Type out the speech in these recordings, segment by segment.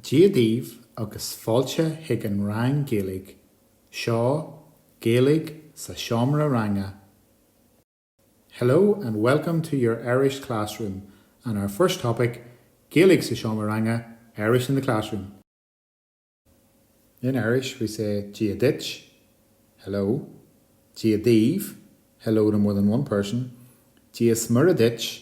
Dia daoibh agus fáilte chuig an rang Gaeilge seo Gaeilge sa seomra ranga Hello and welcome to your Irish classroom and our first topic Gaeilge sa seomra ranga Irish in the classroom In Irish we say Dia duit, Hello, Dia daoibh, Hello to more than one person, Dia smior duit,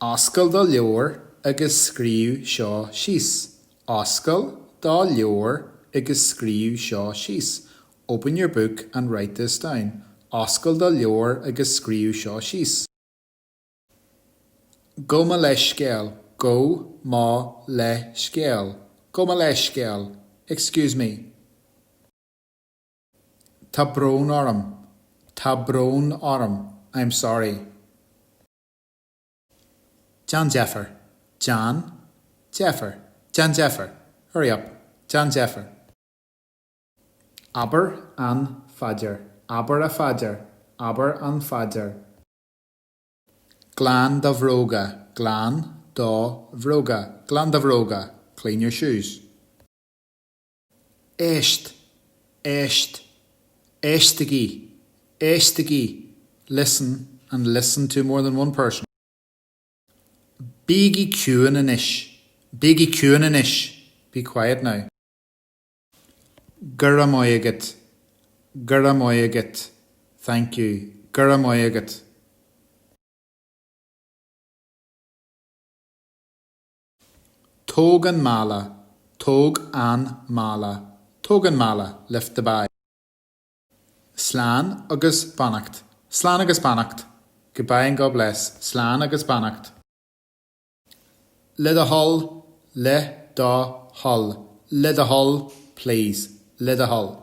Oscail do leabhar agus scríobh seo síos. Oscail do leabhar agus scríobh seo síos. Open your book and write this down. Oscail do leabhar agus scríobh seo síos. Gabh mo leithscéal. Gabh mo leithscéal. Gabh mo leithscéal. Excuse me. Tá brón orm. Tá brón orm. I am sorry. Déan deifir! Déan deifir! Déan deifir! Hurry up! Déan deifir! Abair an phaidir! Abair an phaidir! Abair an phaidir! Glan do bhróga! Glan do bhróga! Glan do bhróga! Clean your shoes! Éist! Éist! Éistigí! Éistigí! Listen and listen to more than one person Bígí ciúin anois! Bígí ciúin anois! Be quiet now! Go raibh maith agat! Go raibh maith agat! Thank you! Go raibh maith agat! Tóg an mála, tóg an mála, tóg an mála, lift the bag. Slán agus beannacht, slán agus beannacht, goodbye and God bless, slán agus beannacht. Le do thoil, le do thoil, le do thoil, please, le do thoil.